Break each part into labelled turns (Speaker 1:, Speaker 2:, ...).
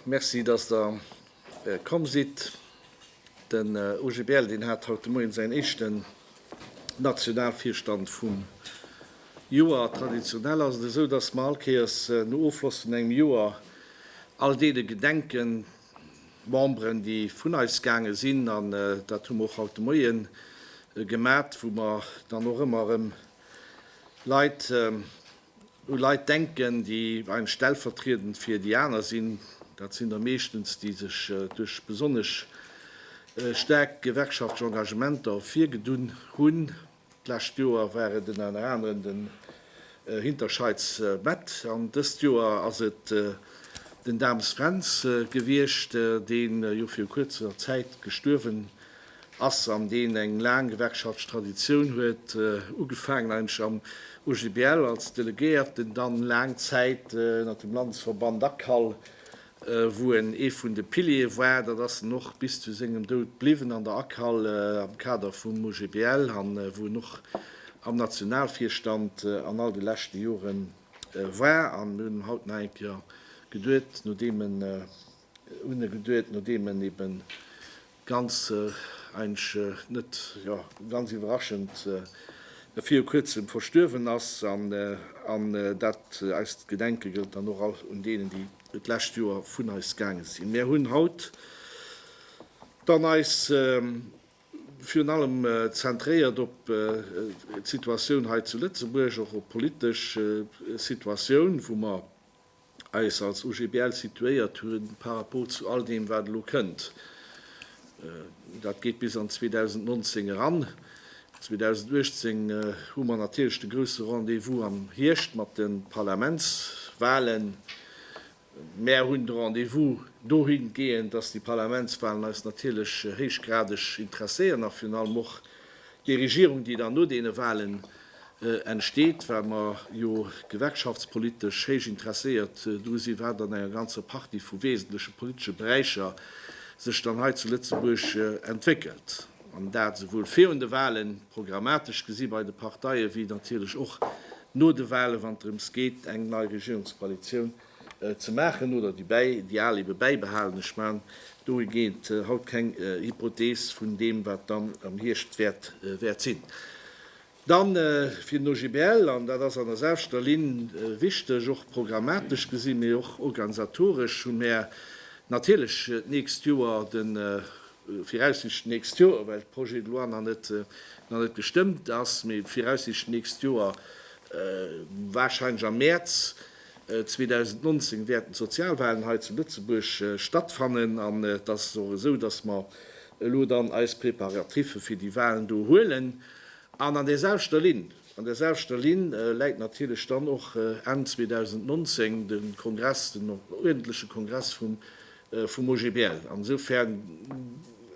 Speaker 1: Merci, dass Der komm sidd. Den OGBL, deen hat haut de Moien säin éischten Nationalvirstand vum Joer. Traditionell ass et esou, dass mer allkéiers no Ofschloss vun engem Joer all deene gedenken, Memberen, déi vun eis gaange sinn, an dat hu mer och haut de Moie gemat, wou mer dann och ëmmer erëm Leit, u Leit denken, déi eim stellvertriedend fir déi aner sinn, dat sinn der meeschtens, déi sech duerch besonnesch staark gewerkschaftlech Engagementer ervirgedunn hunn. D'lescht Joer war et ënner anerem den Hinterscheids Mett an dëst Joer ass et den Dames Fränz gewiescht, deen jo viru kuerzer Zäit gestuerwen ass an deen eng laang gewerkschaftlesch Traditioun huet, ugefaangen eigentlech am OGBL als Delegéierten, dann laang Zäit ënnert dem Landesverband ACAL wou en ee vun de Piliere war, dat ass en och bis zu sengem Doud bliwwen an der ACAL am Kader vum OGBL an wou en och am Nationalvirstand an all de leschte Jore war. An mir hunn haut nach eng Kéier geduet, nodeem en, hunn e geduet, nodeem en eben Ganz eigentlech net ganz iwwerraschend viru kuerzem verstuerwen ass, an dat eist Gedenke gëllt dann och all un deenen, déi d'lescht Joer vun eis gaange sinn. Mär hunn haut dann eis virun allem zentréiert op d'Situatioun hei zu Lëtzebuerg, och op d'politesch Situatioun, wou mer eis als OGBL situéiert hu par rapport zu all deem, wat elo kënnt. Dat geet bis an 2019 eran. 2018 hu mer natierlech de grouse Rendez-vous am Hierscht mat de Parlamentswalen. Mär hunn de Rendez-vous dohingehend, dass déi Parlamentswalen eis natierlech héichgradeg interesséieren a virun allem och Déi Regierung, déi dann no deene Wahlen entsteet, well mer jo gewerkschaftspolitesch héich interesséiert dru sinn, wat an enger ganzer Partie vu wesentleche politesche Beräicher sech dann hei zu Lëtzebuerg entwéckelt, an dat esouwuel virun de Wahlen, programmatesch gesi bei de Parteien, wéi natierlech och no de Wahlen, wann et drëms geet, eng nei Regierungskoalitioun ze maachen oder déi bäi déi al ebe bäibehalen. Ech man dohigeent haut keng Hypothees vun deem wat dann am Hierscht wäert wäert sinn. Dann fir den OGBL, an dat ass an der selwchter Linn wichteg, och programmatesch gesi mee och organisatoresch, hu mär natierlech d'nächst Joer de viraussiichtend d'nächst Joer, well de Projet de loi nach net nach net gestëmmt ass, mee viraussiichtend d'nächst Joer, warscheinlech am Mäerz, 2019 wäerten d'Sozialwahlen hei zu Lëtzebuerg stattfannen an et ass och esou, dass mer elo dann eis Préparatiffe fir déi Wahlen do huelen. An an där selwechter Linn, an där selwechter Linn läit natierlech dann och Enn 2019 de Kongress, den uerdentleche Kongress vum vum OGBL. An esoufern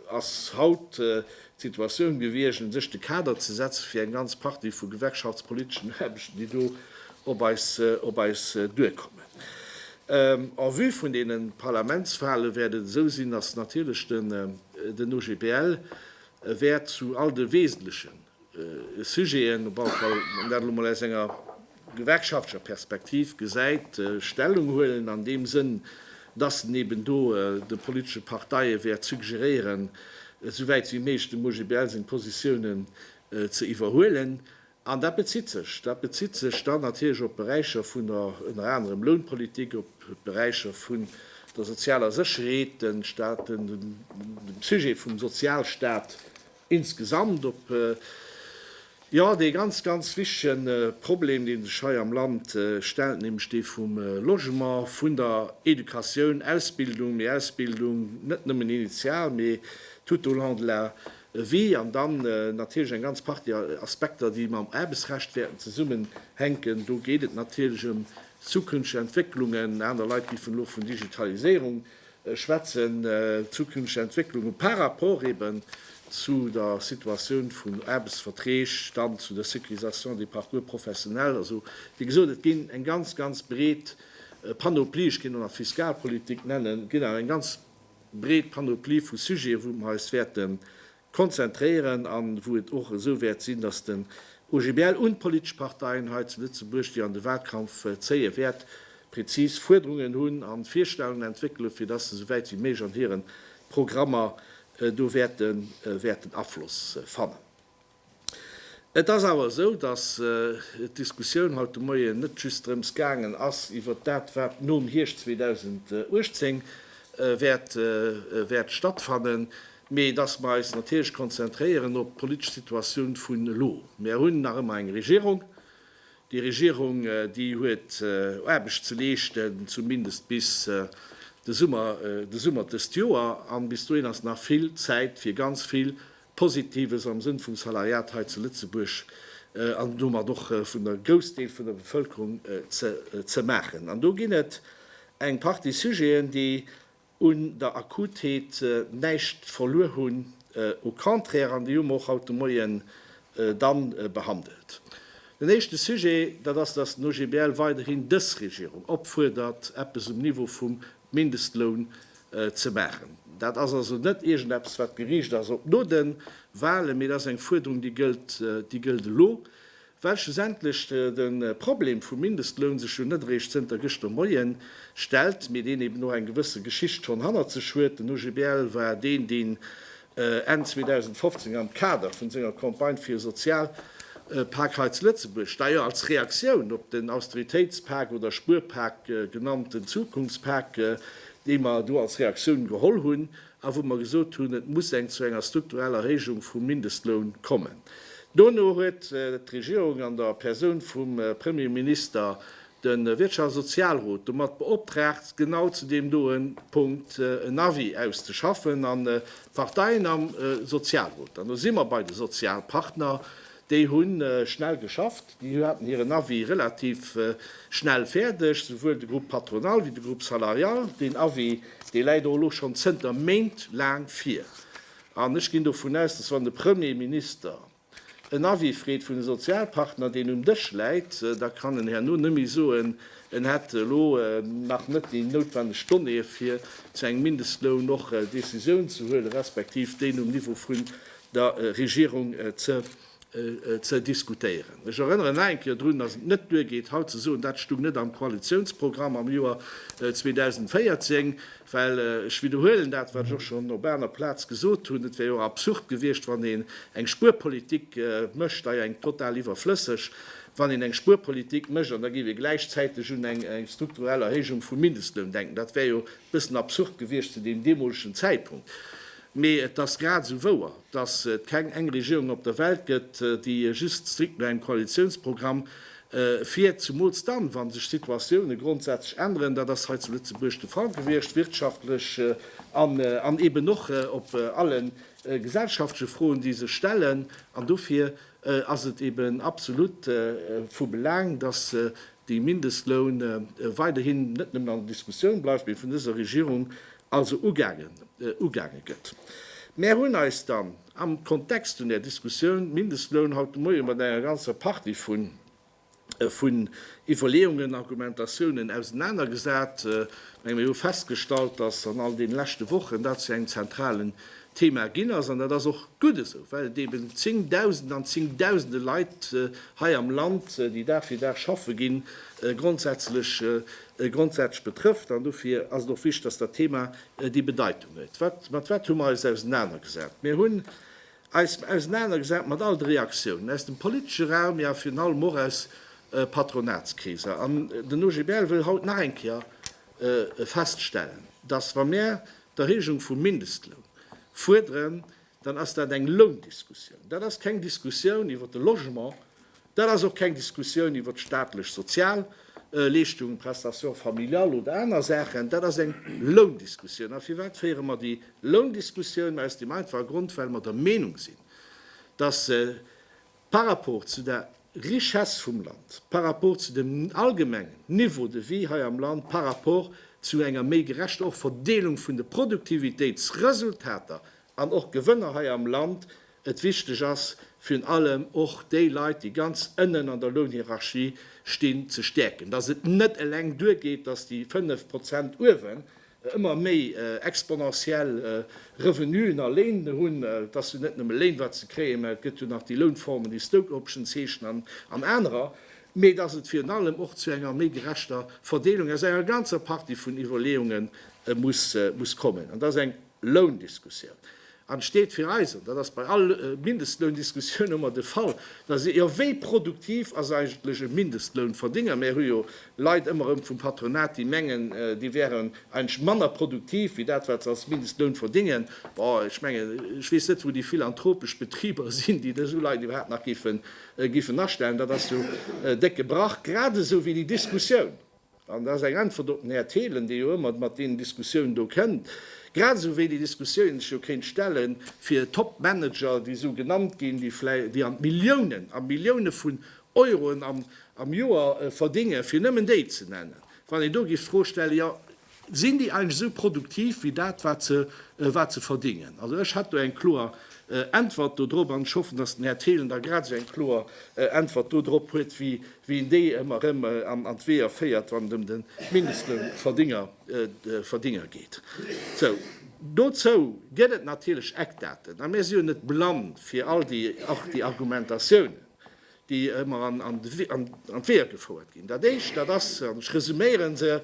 Speaker 1: ass haut d'Situatioun gewiescht, un sech de Kader ze setzen fir eng ganz Partie vu gewerkschaftspoliteschen Aarbechten, déi do op eis duerkommen. En vue vun deene Parlamentswale wäert et esou sinn, datt natierlech den OGBL wäert zu all de wesentlechen Sujeten, op alle Fall dat elo mol aus enger gewerkschaftlecher Perspektiv gesäit, Stellung huelen, an deem Sënn, dass en eben do de politesche Parteie wäert suggeréieren, esou wäit wéi méiglech dem OGBL seng Positiounen ze iwwerhuelen. An dat bezitt sech, dat bezitt sech dann natierlech op Beräicher vun der ënner anerem Lounpolitik, op d'Beräicher vun der sozialer Sécherheet, den Sujet vum Sozialstat insgesamt op jo dee ganz, ganz wichtegen Problem, dee sech hei am Land stellt, nämlech dee vum Logement, vun der Educatioun, Ausbildung, mee Ausbildung net nëmmen initial, mee tout au long de la vie, an dann natierlech eng ganz Partie Aspekter, déi mam Aarbechtsrecht wäerten zesummenhänken. Do geet et natierlech ëm zukünfteg Entwécklungen, aner Leit giffen elo vun Digitaliséierung schwätzen, zukünfteg Entwécklunge par rapport eben zu der Situatioun vun Aarbechtsverträg, dann zu der Sécurisation des parcours professionnels. Also, wéi gesot, et ginn eng ganz, ganz breet Panoplie, ech kéint och nach Fiskalpolitik nennen, et ginn awer eng ganz breet Panoplie vu Sujete, wou mer eis wäerte konzentréieren an wou et och esou wäert sinn, dass den OGBL un d'politesch Parteien hei zu Lëtzebuerg, déi an de Wahlkampf zéie wäert, präzis Fuerderungen hunn an Virstellungen entwéckele fir dass se esou wäit wéi méiglech an hiren Programmer do wäerten Afloss fannen. Et ass awer esou, dass d'Diskussioun haut de Moien net just drëms gaangen ass iwwert dat, wat nom Hierscht 2018 wäert stattfannen, mee dass mer eis natierlech konzentréieren op d'politesch Situatioun vun elo. Mer hunn nach ëmmer eng Regierung. Déi Regierung, déi huet Aarbecht ze leeschten, zumindest bis de Summer dëst Joer. An bis dohin ass nach vill Zäit fir ganz vill Positives am Sënn vum Salariat hei zu Lëtzebuerg an domat och vun der Groussdeel vun der Bevëlkerung ze maachen. An do ginn et eng Partie Sujeten, déi un der Akutheet näischt verluer hunn, au contraire, an déi hu mer och haut de Moien dann behandelt. Den éischte Sujet, dat ass, dass den OGBL weiderhin dës Regierung opfuerdert, eppes um Niveau vum Mindestloun ze maachen. Dat ass also net iergendeppes, wat geriicht ass op no de Wahlen, mee dat ass eng Fuerderung, déi gëllt, déi gëllt elo, well schlussendlech de Problem vum Mindestloun sech jo net eréischt zënter gëschter Moie stellt, mee deen eben och eng gewësse Geschicht schonn hannert sech huet. Den OGBL war deen, deen Enn 2015 am Kader vun senger Campagne fir e Sozialpak hei zu Lëtzebuerg, deier als Reaktioun op den Austeritéitspak oder Spuerpak genannten Zukunftspak, dee mer do als Reaktioun geholl hunn a wou mer gesot hunn, et muss eng zu enger struktureller Erhéijung vum Mindestloun kommen. Dono huet d'Regierung an der Persoun vum Premierminister De Wirtschafts a Sozialrot domat beoptraagt, genau zu deem doe Punkt en Avis auszeschaffen. An d'Parteien am Sozialrot, an do si mer bei de Sozialpartner, déi hu schnell geschafft. Déi haten hiren Avis relativ schnell fäerdeg, souwuel de Groupe patronal wéi de Groupe salarial. Deen Avis, dee läit och elo schonn zënter Méint laang vir. An ech ginn dovun aus, dass, wann de Premier Minister, En Avis freet vun de Sozialpartner, deen um Dësch läit, da kann en herno net méi soen, en hätt elo nach net déi noutwenneg Donnéeë fir zu engem Mindestloun och Décisioun ze huelen, respektiv déi um Niveau vun der Regierung ze diskutéieren. Ech erënneren nach eng Kéier drun, dass et net duergeet haut ze soen, dat stoung net am Koalitiounsprogramm am Joer 2014. Well, ech widderhuelen dat, wat ech och schonn op aner Plaz gesot hunn, et wär jo absurd gewiescht, wann een eng Spuerpolitik mécht, dei eng total iwwerflësseg, wann een eng Spuerpolitik mécht an da géif ee gläichzäiteg un eng strukturell Erhéijung vum Mindestloun denken. Dat wär jo e bëssen absurd gewiescht zu deem deemolegen Zäitpunkt. Mee et ass grad esou wouer, datt et keng eng Regierung op der Welt gëtt, déi just strikt no engem Koalitiounsprogramm fiert, zumools dann, wa sech d'Situatioune grondsätzlech änneren. Dat ass hei zu Lëtzebuerg de Fall gewiescht, wirtschaftlech an eben och op alle gesellschaftleche Froen, déi sech stellen. An dofir ass et eben absolut vu Belang, datt de Mindestloun weiderhin net nëmmen an der Diskussioun bleift, mee vun dëser Regierung also ugaange gëtt. Mär hunn eis dann am Kontext vun där Diskussioun Mindestloun haut de Moie mat enger ganzer Partie vun Iwwerleeungen, Argumentatiounen ausenanergesat. Menge mir hu festgestallt, dass an all deene leschte Wochen dat zu engem zentralen Thema ginn ass. An dat ass och gutt esou, well et eeben Zéngdausende an Zéngdausende Leit hei am Land, déi Dag fir Dag schaffe ginn, grondsätzlech grondsätzlech betrëfft, an dofir ass et och wichtig, dass dat Thema déi Bedeitung huet. Wat, mat wat hu mer eis ausenanergesat? Mir hunn eis ausenanergesat mat all de Reaktiounen aus dem politesche Raum, jo virun allem och aus Patronatskreeser. An den OGBL wëll haut nach eng Kéier feststellen, dass wa mir d'Erhéijung vum Mindestloun fuerderen, dann ass dat eng Loundiskussioun. Dat ass keng Diskussioun iwwert de Logement, dat ass och keng Diskussioun iwwert staatlech Sozialleeschtungen, Prestations familiales oder aner Saachen, dat ass eng Loundiskussioun. A firwat féiere mer déi Loundiskussioun? Aus deem einfache Grond, well mer der Meenung sinn, dass Par rapport zu der Richesse vum Land, par rapport zu dem allgemengen Niveau de vie hei am Land, par rapport zu enger méi gerechter och Verdeelung vun de Produktivitéitsresultater an och Gewënner hei am Land, et wichteg ass, virun allem och déi Leit, déi ganz ënnen an der Lounhierarchie stinn, ze stäerken, dass et net eleng duergeet, dass déi 5 Prozent uewen ëmmer méi exponentiell Revenuen a Léin hunn, et ass jo net nëmme Léin wat se kréien, mä et gëtt jo nach déi Lounformen, déi Stoke Options heeschen an anerer, mä datt et virun allem och zu enger méi gerechter Verdeelung aus enger ganzer Partie vun Iwwerleeunge muss kommen. An dat ass eng Loundiskussioun. Et steet fir eis, an dat ass bei all Mindestloundiskussioun ëmmer de Fall, dass ee, jo, wéi produktiv ass eigentlech e Mindestlounverdénger? Mir hu jo Leit ëmmer erëm vum Patronat, déi mengen, déi wären eigentlech manner produktiv wéi dat, wat se als Mindestloun verdéngen. Bon, ech mengen, ech weess net, wou déi philanthropesch Betriber sinn, déi esou Leit iwwerhaapt nach géifen astellen. Dat ass jo décke Brach, gradesou wéi déi Diskussioun, An dat ass eng Äntwert op den Här Thelen, dee jo ëmmer mat deenen Diskussioun do kënnt, grad esou wéi déi Diskussioun een sech jo kéint stellen, fir Topmanager, déi esou genannt ginn, déi vläi, déi an d'Milliounen, a Millioune vun Euroen am, am Joer verdéngen, fir nëmmen déi ze nennen, wann een do géif d'Fro stellen, jo, sinn déi eigentlech esou produktiv wéi dat, wat se, wat se verdéngen? Also ech hätt do eng kloer Äntwert dodrop, an ech hoffen, datt den Här Thelen da grad esou eng kloer Äntwert dodrop huet wéi Wien déi emmer rem an d'Weeër féiert wann et em den Mindestloun verdinger verdinger geet. Sou dozou gett et natierlech Eckdaten a mir si jo net blann fir all déi och déi Argumentatiounen déi emmer an an an d'Weeër gefouert ginn. Dat éischt dat ass, an ech resuméieren se,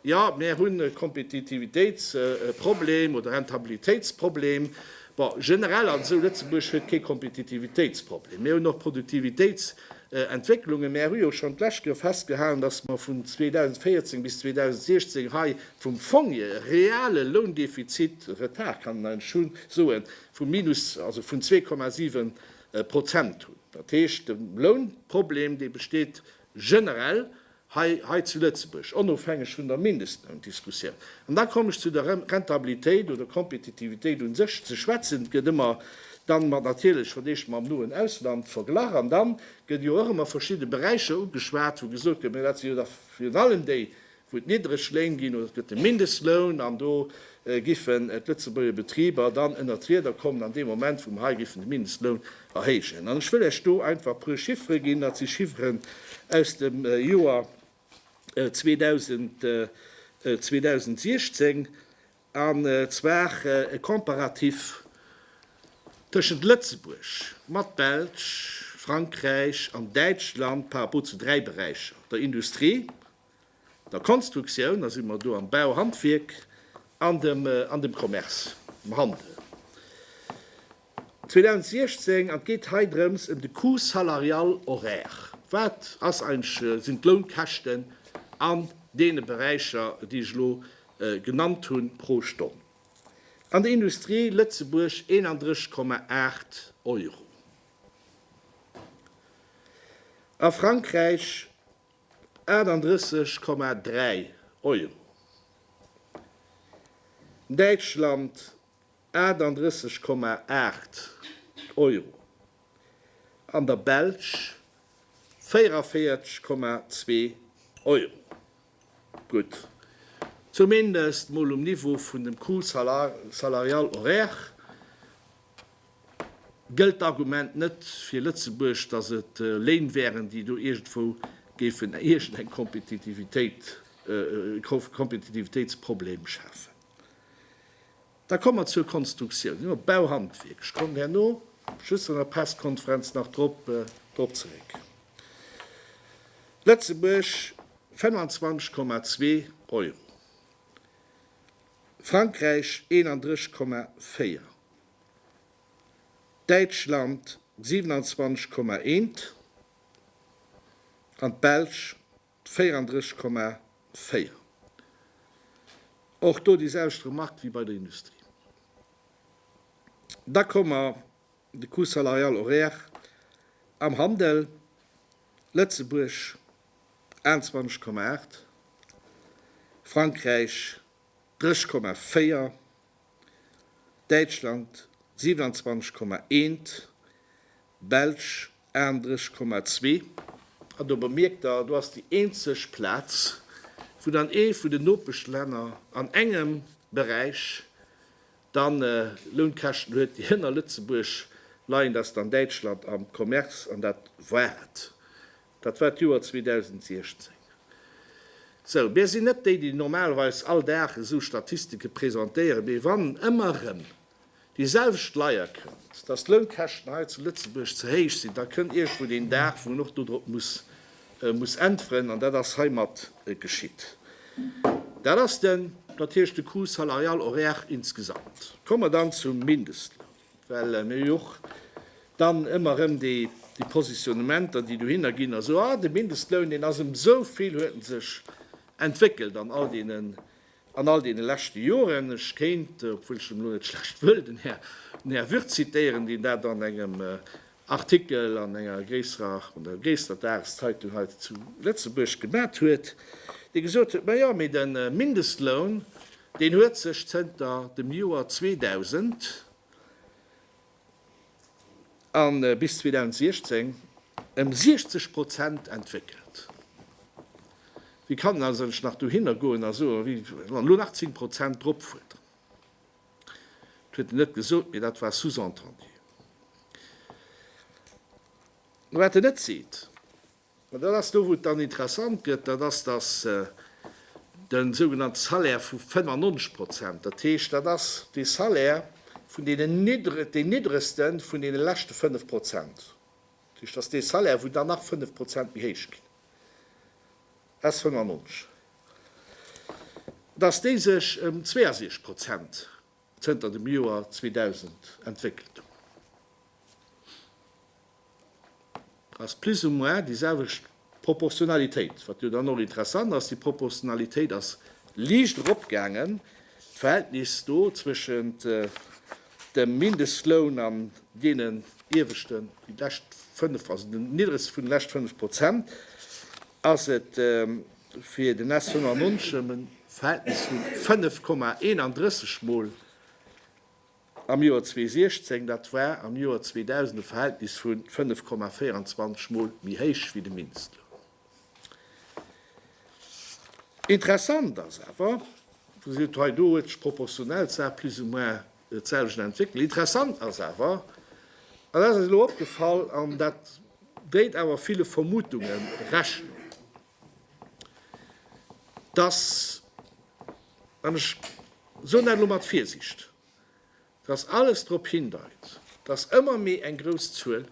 Speaker 1: jo mir hunn e Kompetitivitéits Problem oder Rentabilitéits Problem. Bon generell also Lëtzebuerg huet kee Kompetitivitéits Problem. Mir hunn och Produktivitéits Entwécklungen. Mä hu jo schonn d'lescht Joer festgehalen, datt mer vun 2014 bis 2016 hei vum Fong-ie reale Loundefizit, Retard kann een eigentlech hu soen, vu minus, also vun 2,7 Prozent hunn. Dat heescht, de Lounproblem, dee besteet generell hei hei zu Lëtzebuerg, onofhängeg vun der Mindestloundiskussioun. An da kommen ech zu der Rentabilitéit oder Kompetitivitéit un sech ze schwätzen. Et gëtt ëmmer dann mat natierlech verdeelt mam noen Ausland verglach. An dann gëtt jo och ëmmer verschidde Beräicher ugeschwat, wou gesot gëtt, mä dat sinn jo da virun allem déi, wou et niddreg Léin ginn, oder et gëtt de Mindestloun, an do giffen d'Lëtzebuerger Betriber dann ënnert d'Rieder kommen an dee Moment, wou mer hei giffen de Mindestloun erhéijen. An ech wëll lech do einfach e puer Chiffere ginn. Dat si Chifferen aus dem Joer 2016, an zwar e Comparatif tëschent Lëtzebuerg mat Belsch, Frankräich an Däitschland par rapport zu dräi Beräicher, der Industrie, der Konstruktioun, da si mer do am Bau, Handwierk an dem an dem Commerce, dem Handel, 2016. An et geet hei drëms ëm de Coût salarial horaire, wat ass eigentlech, sinn d'Lounkäschten an deene Beräicher, déi ech elo genannt hunn, pro Stonn. An der Industrie, Lëtzebuerg, 31,8 Euro, a Frankräich, 38,3 Euro, Däitschland 38,8 Euro an der Belsch 44,2 Euro. Gutt, zumindest mol um Niveau vun dem Coût salarial horaire. gëllt d'Argument net fir Lëtzebuerg, datt et Léin wären, déi do iergendwou géifen iergendeng Kompetitivitéit, Kompetitivitéitsproblem schafen. Da komme mer zur Konstruktioun, jo, Bauhandwierk, ech kommen herno just an der Pressekonferenz nach drop, drop zeréck. Lëtzebuerg 25,2 Euro, Frankräich 31,4, Däitschland 27,1 an d'Belsch 34,4. Och do déi selwecht Remark wéi bei der Industrie. Da komme mer de Coût salarial horaire am Handel, Lëtzebuerg 21,8, Frankräich 3,4, Däitschland 27,1, Belsch 38,2. An do bemierkt Der, do ass déi eenzeg Plaz, wou dann ee vun den Nopeschlänner an engem Beräich dann Lounkäschten huet, déi hënner Lëtzebuerg leien, dat ass dann Däitschland am Commerce, an dat war et. Dat war d'Joer 2016. Sou, mir sinn net déi, déi normalerweis all Dag esou Statistike presentéieren, mee wann ëmmer erëm déi selwecht Leier kënnt, dass d'Lounkäschten hei zu Lëtzebuerg ze héich sinn, da kënnt iergendwou een Dag, wou een och dodrop muss äntweren. An dat ass heimat geschitt. Dat ass den. Dat heescht de Coût salarial horaire insgesamt. Komme mer dann zum Mindestloun. Well mir hu jo och dann ëmmer erëm déi Positionnementer, déi dohinner ginn, also, ah, de Mindestloun, deen ass ëm esou vill, huet en sech entwéckelt an all deene leschte Joren. Ech kéint, obwuel ech elo net schlecht wëll den Här Würth zitieren, deen dat an engem Artikel an enger gréisserer an der gréisster Dageszeitung hei zu Lëtzebuerg gemat huet, dee gesot huet, majo mee de Mindestloun, deen huet sech zënter dem Joer 2000 a bis 2016 ëm 60 Prozent entwéckelt. Wéi kann een also nach dohinner goen a soen, elo nach 10 Prozent drop fuerderen? Et huet en net gesot, mee dat war sous-entendu. Mä wat en net seet, an dat ass do wou et dann interessant gëtt, dat ass, datt de sougenannte Salaire vu 95 Prozent, dat heescht dat ass dee Salaire vun deenen, deen niddregste vun deene leschte 5 Prozent, dat heescht dat ass dee Salaire wou dann nach 5 Prozent méi héich ginn, S. 95, datt déi sech ëm 62 Prozent zënter dem Joer 2000 entwéckelt hunn, ass plus ou moins déi selwecht Proportionalitéit. Wat jo dann och interessant ass, déi Proportionalitéit ass liicht eropgaangen, d'Verhältnis do zwëschent dem Mindestloun an deenen ieweschten, déi lescht fënnf, also den niddregste vun de lescht fënnf Prozent. ass et fir den SC Monnermonschem en Verhältnis vu 5,31 Mol am Joer 2016, dat war am Joer 2000 e Verhältnis vu 5,24 Mol méi héich wéi de Minster. Interessant ass awer, Dir gesitt hei, do huet sech d'Proportionalszahl plus ou moins D'selwecht entwéckelt. Interessant ass awer, an dat ass eis elo opgefall, an dat déit awer ville Vermutunge Rechnung, dass, an ech soen dat elo mat Virsicht, dass alles drop hindeit, dass ëmmer méi eng grouss Zuel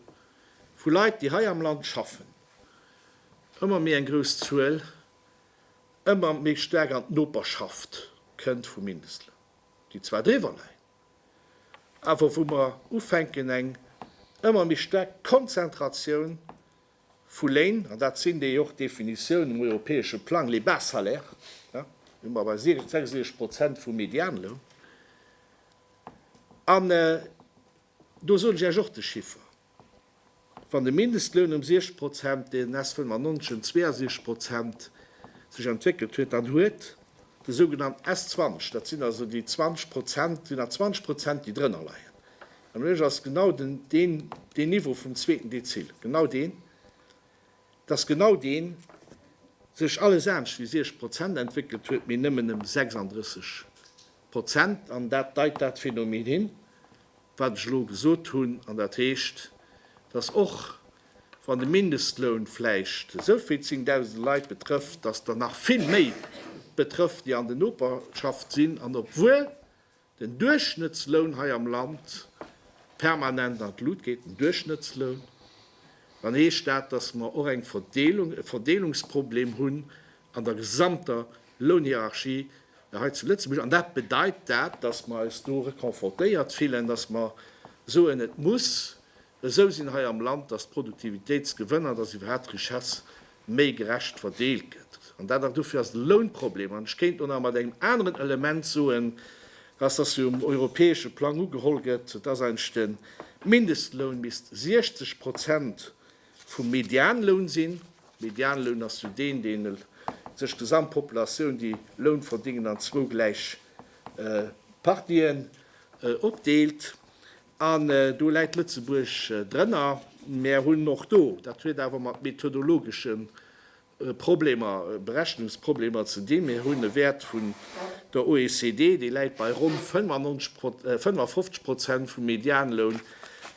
Speaker 1: vu Leit, déi hei am Land schaffen, ëmmer méi eng grouss Zuel ëmmer méi staark an d'Noperschaft kënnt vum Mindestloun. déi zwar driwwer leien, awer wou mer ufänken eng ëmmer méi staark Konzentratioun vu Léin, an dat sinn déi och Definitioun um europäesche Plang, les bas salaires, do si mer bei 66 Prozent vum Medianloun. Do soen ech Iech och de Chiffer, Wann de Mindestloun ëm 60 Prozent, deen s 1962 Prozent sech entwéckelt huet, dann huet de sougenannt s 20, dat sinn also déi 20 Prozent, sinn nach 20 Prozent, déi drënner leien. An ueleg ass genau den, deen, deen Niveau vum zweeten Dezil, genau deen, dass genau deen sech alles anescht wéi 60 Prozent entwéckelt huet, mee nëmmen ëm 36. Prozent, an dat deit dat Phänomen hin, wat ech elo gesot hunn, an dat heescht, dass och wann de Mindestloun vläicht esou vill zéngdausende Leit betrëfft, dass der nach vill méi betrëfft, déi an de Noperschaft sinn, an obwuel den Duerchschnëttsloun hei am Land permanent an d'Lut geet, den Duerchschnëttsloun, dann heescht dat, dass mer och eng Verdeelung, e Verdeelungsproblem hunn, an der gesamter Lounhierarchie hei zu Lëtzebuerg. An dat bedeit dat, dass mer eis do reconfortéiert fillen, dass mer soen, et muss esou sinn hei am Land, dass d'Produktivitéitsgewënner, dass iwwerhaapt d'Richesse méi gerecht verdeelt gëtt. An dat ass, dofir ass de Lounproblem, an ech kéint elo nach mat engem aneren Element soen, dass dass hie um europäesche Plang ugeholl gëtt, dass eigentlech de Mindestloun misst 60 Prozent vum Medianloun sinn. Medianloun ass jo deen, dee sech d'Gesamtpopulatioun, déi Loun verdingen, an zwou gläich Partien opdeelt. An do läit Lëtzebuerg drënner. Mär hunn och do, dat huet awer mat methodologeschen Problemer, Berechnungsproblemer ze dinn. Mir hunn e Wäert vun der OECD, dee läit bei ronn 55 Prozent vum Medianloun.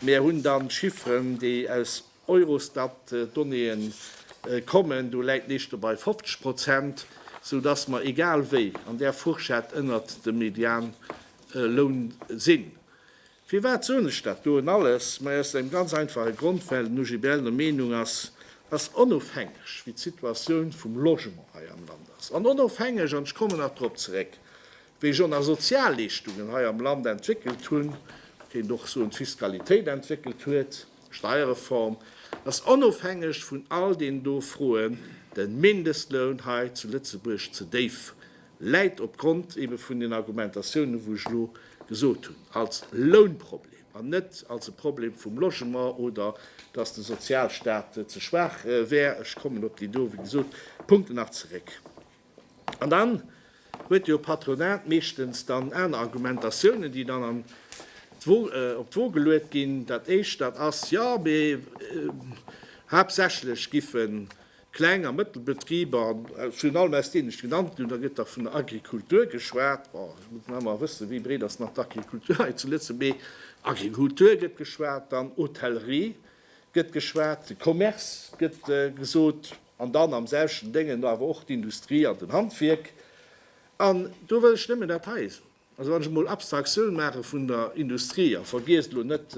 Speaker 1: Mir hunn dann Chifferen, déi aus Eurostat-Donnéeë kommen, do läit nees do bei 50 Prozent, soudass mer egal wéi an där Fourchette ënnert dem Medianloun sinn. Firwat soen ech dat doen alles? Majo aus engem ganz einfache Grond, well den OGBL der Meenung ass, dass onofhängeg wéi d'Situatioun vum Logement hei am Land ass, an onofhängeg, an ech kommen nach drop zeréck, wéi ech och nach Sozialleeschtungen hei am Land entwéckelt hunn, kéint och soen d'Fiskalitéit entwéckelt huet, Steierreform, dass onofhängeg vun all deenen do Froen de Mindestloun hei zu Lëtzebuerg ze déif läit opgrond ebe vun den Argumentatiounen, wou ech elo gesot hunn, als Lounproblem an net als e Problem vum Logement oder dass de Sozialstat ze schwaach wär. Ech kommen op déi do, wéi gesot, Punkten nach zeréck. An dann huet jo d'Patronat meeschtens dann aner Argumentatiounen, déi dann an d'Wo, op d'Wo geluet ginn. Dat Éischt, dat ass, Jo, mee haaptsächlech giffen Kleng a Mëttelbetriber, an virun allem aus deenen ech genannt ginn hunn, da gëtt da vun der Agrikultur geschwat. Bon, ech muss nach emmer wëssen, wéi breet ass nach d'Agrikultur hei zu Lëtze-, mee Agrikultur gëtt geschwat, dann Hotellerie gëtt geschwat, de Commerce gëtt gesot, an dann am selwechten Déngen awer och d'Industrie an den Handwierk. An do wëll ech nëmmen dat heien soen. Also wann ech emol Abstraktioun maache vun der Industrie a vergiess elo net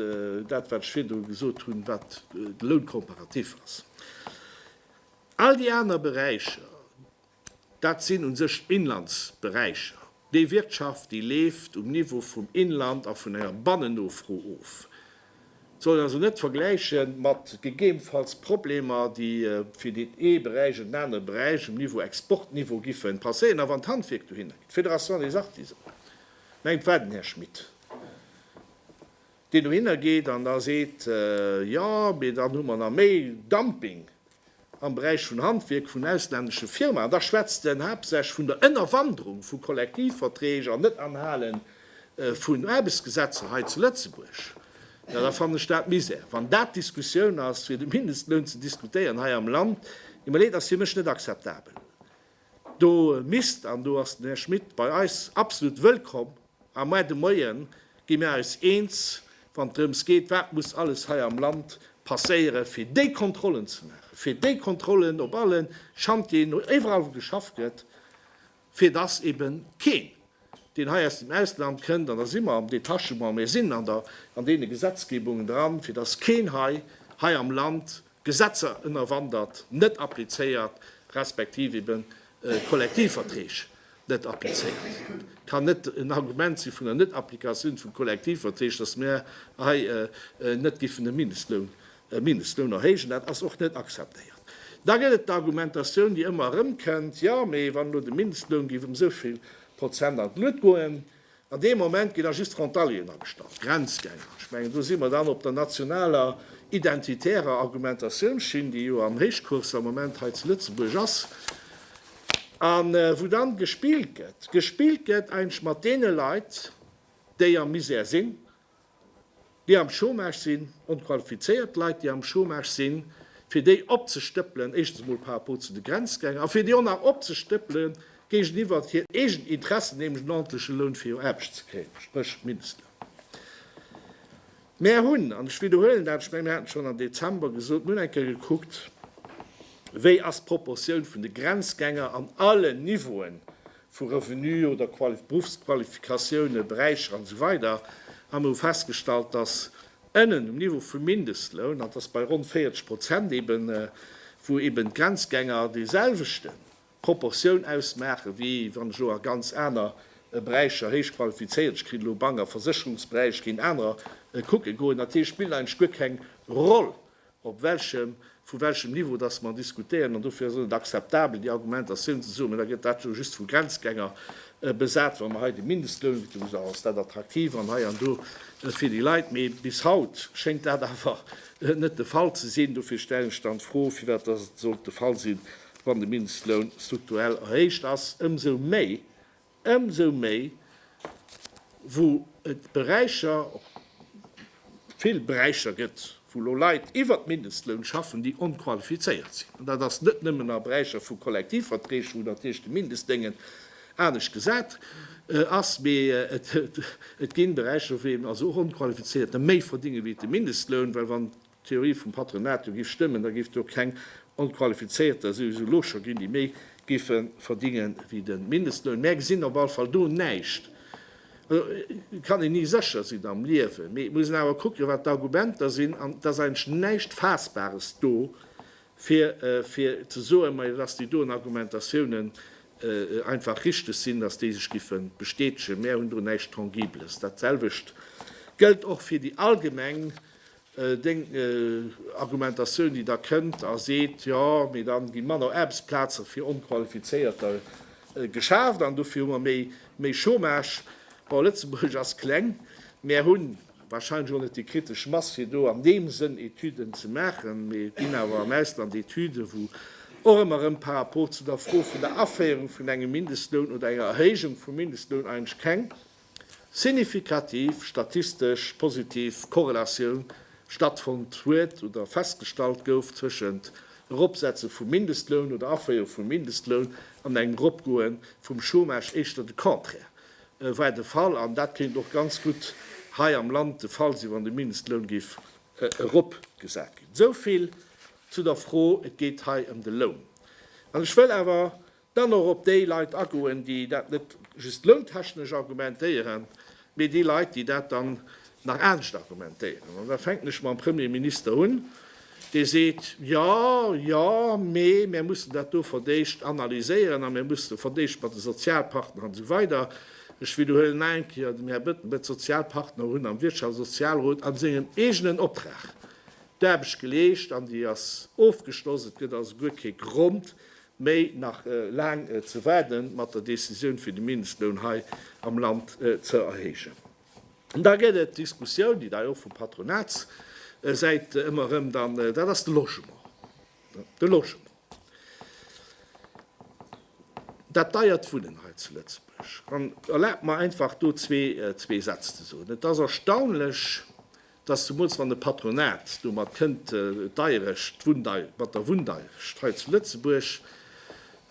Speaker 1: dat, wat ech virdru gesot hunn, wat de Louncomparatif ass. All déi aner Beräicher, dat sinn u sech Inlandsberäicher, déi Wirtschaft, déi leeft um Niveau vum Inland a vun enger Bannennofro of. Sollt een also net vergläiche mat gegebenfalls Problemer, déi fir deen ee Beräich an den anere Beräich um Niveau Exportniveau giffe passéieren. A wann d'Handwierk dohinner geet, d'Fédération des Artisans, mengt d'war den Här Schmit, deen dohinner geet an da seet, jo, mee dann hu mer nach méi Dumping, am Beräich vun Handwierk vun auslännesche Firmaen, da schwätzt en haaptsächlech vun der Ënnerwanderung vu Kollektivverträg an Net-Anhale vun Aarbechtsgesetzer hei zu Lëtzebuerg. Jo, da fannen ech dat Misär. Wann dat d'Diskussioun ass, fir de Mindestloun ze diskutéieren hei am Land, et mir leed, ass fir mech net akzeptabel. Do misst, an do ass den Här Schmit bei eis absolut wëllkomm, a mar de Moien gi mir eis eens, wann et drëms geet, wat muss alles hei am Land passéieren, fir déi Kontrollen ze maachen, fir déi Kontrollen op alle Chantieren, iwwerall wou geschafft gëtt, fir dass eben keen, deen hei aus dem Ausland kënnt, an da si mer am Detachement, mir sinn an deene Gesetzgebungen dran, fir dass keen hei am Land Gesetzer ënnerwandert, net applizéiert, respektiv ebe Kollektivverträg net applizéiert. Et kann net en Argument si vun der Net-Applikatioun vu Kollektivverträg, datt mir hei net giffen de Mindestloun e Mindestloun erhéijen. Dat ass och net akzeptéiert. Da gëtt et d'Argumentatioun, déi ëmmer erëmkënnt, Jo, mee wann elo de Mindestloun géif ëm esou vill Prozent an d'Luet goen, An deem Moment ginn da just Frontalieren agestallt, Grenzgänger. Ech mengen, do si mer dann op der nationaler identitärer Argumentatiounsschinn, déi jo am Héichcours am Moment hei zu Lëtzebuerg ass, a wou dann gespillt gëtt, gespillt gëtt eigentlech mat deene Leit, déi am Misär sinn, déi am Chômage sinn, onqualifizéiert Leit, déi am Chômage sinn, fir déi opzestëppelen, éischtens emol par rapport zu de Grenzgänger, a fir déi och nach opzestëppele géigeniwwer hir eegen Interessen, nämlech en ordentleche Loun, fir jo Aarbecht ze kréien, spréch Mindestloun. Mär hunn, an ech widderhuelen dat, ech mengen, mir haten et schonn am Dezember gesot, mir hunn eng Kéier gekuckt, wéi ass d'Proportioun vun de Grenzgänger an allen Niveauen vu Revenu oder Berufsqualifikatiounen, Beräicher an esou weider a mer hu festgestallt, dass ënnen um Niveau vum Mindestloun, an dat ass bei ronn 40 Prozent eben, wou eben d'Grenzgänger déi selwechte Proportioun ausmaachen, wéi wann ech elo a ganz aner Beräicher héich qualifizéiert, ech kritt elo Bank a Versécherungsberäich, géint anerer kucke goen, dat heescht, spillt eigentlech guer keng Roll, op welchem, vu welchem Niveau dass mer diskutéieren, an dofir ass et net akzeptabel, déi Argumentatioun ze soen, mä da gëtt dat jo just vu Grenzgänger besat, wa mer hei de Mindestloun, wéi d'Lou gesot hat, ass dat attraktiv an hei an do fir déi Leit, mee bis haut schéngt dat awer net de Fall ze sinn. Dofir stellen ech dann d'Fro, firwat dass et sollt de Fall sinn, wann de Mindestloun strukturell erhéicht ass, ëmsou méi Ëmsou méi wou et Beräicher, vill Beräicher gëtt, wou elo Leit iwwert Mindestloun schaffen, déi onqualifizéiert sinn. An dat ass net nëmmen a Beräicher vu Kollektivverträg, wou natierlech de Mindestdéngen anescht gesat ass, mee et ginn Beräicher, wou eben also och Onqualifizéierte méi verdinge wéi de Mindestloun, well wann D'Theorie vum Patronat, do giff stëmmen, da giff do keng Onqualifizéierter souwisou lo scho ginn, déi méi giffe verdinge wéi de Mindestloun. Mär gesinn op alle Fall do näischt. Also kann een ni sécher sinn am Liewen, mee et muss een awer kucken, wat d'Argumenter sinn. An et ass eigentlech näischt Faassbares do, fir fir ze soen, majo, dass déi doen Argumentatiounen einfach richteg sinn, dass déi sech giffe bestätegen. Mär hunn do näischt Tangibles. Dat selwecht gëllt och fir déi allgemeng Deng Argumentatioun, déi da kënnt a seet, jo, mee dann gi manner Aarbechtsplaze fir Onqualifizéierter geschaaft an dofir hu mer méi Chômage. Bon, Lëtzebuerg ass kleng. Mär hu warscheinlech och net déi kritesch Mass, fir do an deem Sënn Etüden ze maachen. Mee et ginn awer am Ausland Etüden, wou och ëmmer erëm par rapport zu der Fro vun der Aféierung vun engem Mindestloun oder enger Erhéijung vum Mindestloun eigentlech keng signifikativ statistesch positiv Korrelatioun stattfonnt huet oder festgestallt gouf tëschent Eropsetze vum Mindestloun oder Aféierung vum Mindestloun an engem Eropgoe vum Chômage, éischter de Contraire war de Fall. An dat kéint och ganz gutt hei am Land de Fall sinn, wann de Mindestloun géif eropgesat ginn. Esou vill zu der Fro, et geet hei ëm de Loun. An ech wëll awer Dann och op déi Leit agoen, déi dat net just lountechnesch argumentéieren, mee déi Leit, déi dat dann nach anescht argumentéieren. An da fänken ech mam Premier Minister un, dee seet, Jo, jo, mee mir mussen dat do fir d'éischt analyséieren a mir mussen fir d'éischt mat de Sozialpartner an esou weider. Ech widderhuelen nach eng Kéier, den Här Bettenbech, D'Sozialpartner hunn am Wirtschafts a Sozialrot a sengem eegenen Optrag d'Aarbecht geleescht an déi ass ofgeschloss. Et gëtt also guer kee Grond, Mee nach laang ze waarden mat der Decisioun fir de Mindestloun hei am Land ze erhéijen. An da gëtt et d'Diskussioun, déi da jo och vu Patronatssäit ëmmer erëm dann, dat ass de Logement. De Logement, dat deiert Wunnen hei zu Lëtzebuerg. An erlaabt mer einfach do zwee Sätz ze soen. Et ass erstaunlech, dass zemools wann e Patronat domat kënnt, d'Deierecht, d'Wunndei, mat der Wunndeierecht hei zu Lëtzebuerg,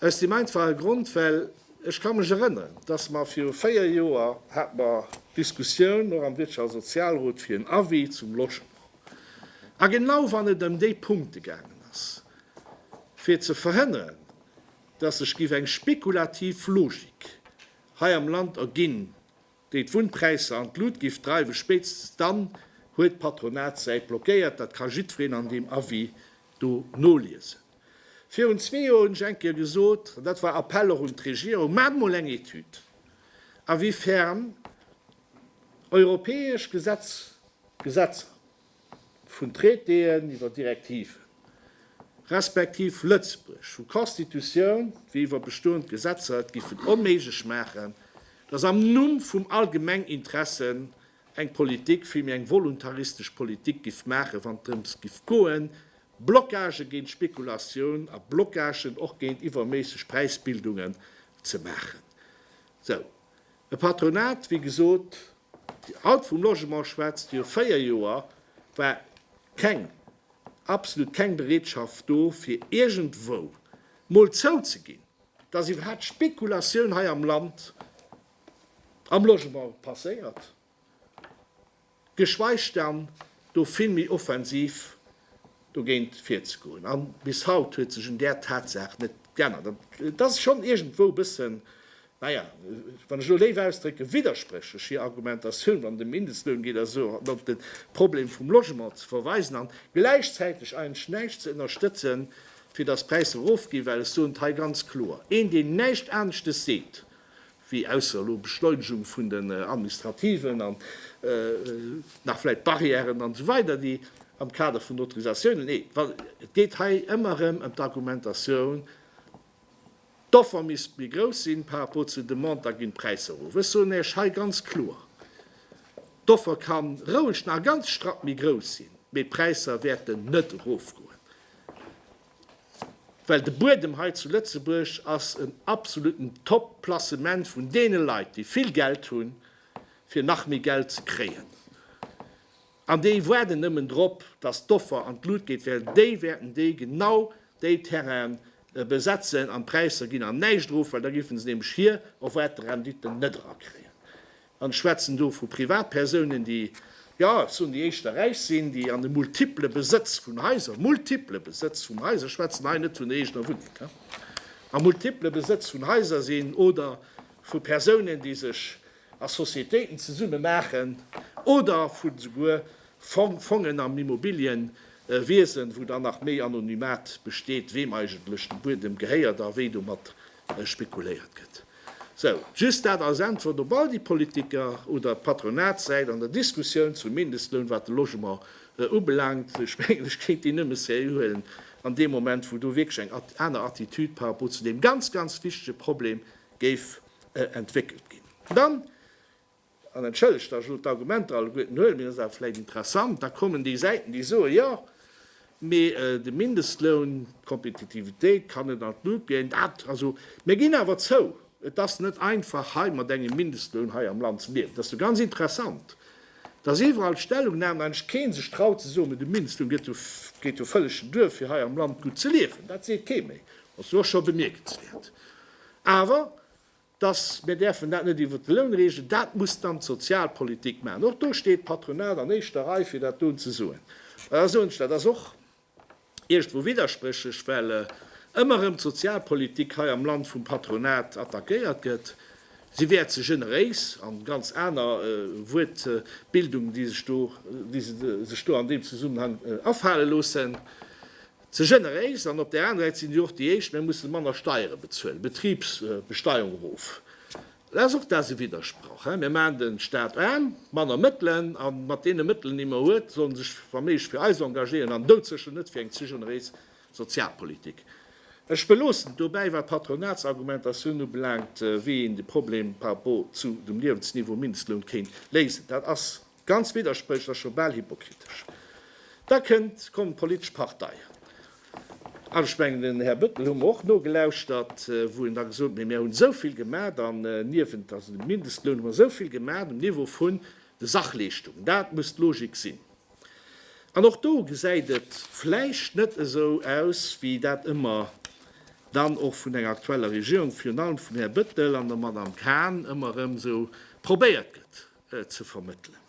Speaker 1: aus deem einfache Grond, well ech ka mech erënneren, dass mer viru véier Joer hate mer d'Diskussioun och am Wirtschafts a Sozialrot fir en Avis zum Logement, a genau wann et ëm déi Punkte gaangen ass, fir ze verhënnern, dass sech giff eng spekulativ Logik hei am Land erginn, déi d'Wunnpräisser an d'Lut giff dreiwen, spéitstens dann huet d'Patronatssäit blockéiert, dat ka jiddfereen an deem Avis do noliesen. Virun zwee Joer hunn ech eng Kéier gesot, an dat war Appell och un d'Regierung, Maacht mol eng Etüd, awiefern europäesch Gesetz, Gesetzer, vun Traitéen iwwer Direktiven, respektiv Lëtzebuerg vu Constitutioun wéi iwwer bestoend Gesetzer et giffen onméiglech maachen, datt am Numm vum allgemeng Interesse eng Politik, villméi eng voluntaristesch Politik giff maachen, wann et drëms giff goen, Blockagë géint Spekulatioun a Blockagen och géint iwwerméisseg Präisbildungen ze maachen. Esou. E Patronat, wéi gesot, Dir haut vum Logement schwätzt, viru véier Joer war keng, absolut keng Bereetschaft do, fir iergendwou mol zouzeginn, dass iwwerhaapt Spekulatioun hei am Land am Logement passéiert. geschweich dann do vill méi offensiv dogéint virzegoen. A bis haut huet sech un där Tatsaach net geännert. An et ass schonn iergendwou e bëssen, naja, wann ech elo léif ausdrécken, widderspréchlech hir Argumentatioun, wann et ëm Mindestloun geet a sou, an op de Problem vum Logement ze verweisen an gläichzäiteg eigentlech näischt ze ënnerstëtzen, fir datt d'Präisser erofginn, well ech soen et hei ganz kloer, een, deen näischt aneschtes seet, wéi ausser elo Beschleunegung vun den administrativen an nach vläit Barrièren an esou weider, déi am Kader vun Autorisatiounen, nee, wa, et geet hei ëmmer erëm ëm d'Argumentatioun, d'Offer misst méi grouss sinn par rapport zur Demande, da ginn d'Präisser erof. Ech soen Iech hei ganz kloer, d'Offer ka roueg nach ganz strapp méi grouss sinn, mee d'Präisser wäerten net erofgoen. Well de Buedem hei zu Lëtzebuerg ass en absoluten Top Placement vun deene Leit, déi vill Geld hunn, fir nach méi Geld ze kréien. An déi waarden nëmmen drop, datt d'Offer an d'Lut geet, well déi wäerten déi genau déi Terrainen besetzen an d'Präisser ginn an näischt erof, well da géife se nämlech hir erwaarte Renditen net erakréien. An ech schwätzen do vu Privatpersounen, déi, jo, ech soen, déi éischter räich sinn, déi an e multiple Besëtz vun Haiser, multiple Besëtz vun Haiser, ech schwätzen hei net vun der eegener Wunneng, a multiple Besëtz vun Haiser sinn, oder vu Persounen, déi sech a Sociétéiten zesumme maachen, oder vu souguer Fongen am Immobiliënwiesen, wou dann nach méi Anonymat besteet, weem eigentlech de Buedem gehéiert a wéi domat spekuléiert gëtt. Sou, just dat als Äntwert op all déi Politiker oder Patronatssäit an der Diskussioun zum Mindestloun, wat de Logement ubelaangt. Ech mengen, ech kéint déi nëmme seriö huelen an deem Moment, wou do wierklech eng aner Attitude par rapport zu deem ganz, ganz wichtege Problem géif entwéckelt ginn. Dann, An entschëllegt, datt ech elo d'Argumenter alleguerten huelen, mee dat ass awer vläicht interessant, da kommen déi Säiten, déi soen, jo, mee de Mindestloun, d'Kompetitivitéit kann net an d'Lut ginn. Dat, also mir ginn awer zou, et ass net einfach hei mat engem Mindestloun hei am Land ze liewen. Dat ass jo ganz interessant, datt iwwerall d'Stellungnamen, eigentlech kee sech traut ze soen, mee de Mindestloun gëtt jo, geet jo vëlleg duer fir hei am Land gutt ze liewen. Dat seet kee méi. Ass jo och scho bemierkenswäert. Awer dass mir däerfen dat net iwwert de Loun reegelen, dat muss dann d'Sozialpolitik maachen. Och do steet d'Patronat an éischter Rei fir dat doen ze soen. Mä da soen ech, dat ass och iergendwou widderspréchlech, well ëmmer erëm d'Sozialpolitik hei am Land vum Patronat attackéiert gëtt. Si wär ze generéis a ganz aner Wuertbildungen, déi se sech do an deem Zesummenhang afale loossen. Ze generéis, an op där aner Säit sinn si och déi éischt, mir mussen manner Steiere bezuelen, Betribsbesteuerung erof. Dat ass och dat ass e Widdersproch. Mir maachen de Staat aarm, manner Mëttelen, a mat deene Mëttelen déi mer huet, soll en sech wa méiglech fir eis engagéieren, an doudsécher net fir eng ze generéis Sozialpolitik. Ech beloossen et dobäi, wat d'Patronatsargumentatioun ubelaangt, wéi een de Problem par rapport zu dem Liewensniveau, Mindestloun, kéint léisen. Dat ass Ganz widderspréchlech, jo bal hypokritesch. Da kënnt, kommen d'politesch Parteien, an ech mengen den Här Bettel hu mer och nogelauschtert, wou en da gesot huet, mee mir hunn esou vill gemat an niewent, also dem Mindestloun, hu mer esou vill gemat um Niveau vun de Sachleeschtungen, dat muss d'Logik sinn. An och do gesäit et vläicht net esou aus, wéi dat ëmmer dann och vun enger aktueller Regierung, virun allem vum Här Bettel an der Madame Cahen ëmmer erëm esou probéiert gëtt. ze vermëttelen.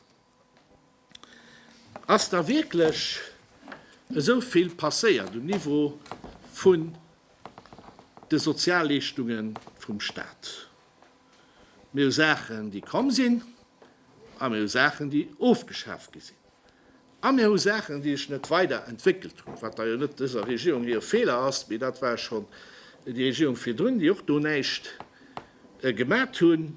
Speaker 1: Ass da wierklech esou vill passéiert um Niveau vun de Sozialleeschtunge vum Staat? Mir hu Saachen, déi komm sinn, a mir hu Saachen, déi ofgeschaaft gi sinn, a mir hu Saachen, déi sech net weider entwéckelt hunn, wat da jo net dëser Regierung hire Feeler ass, mee dat war schonn déi Regierung virdrun, déi och do näischt gemat hunn.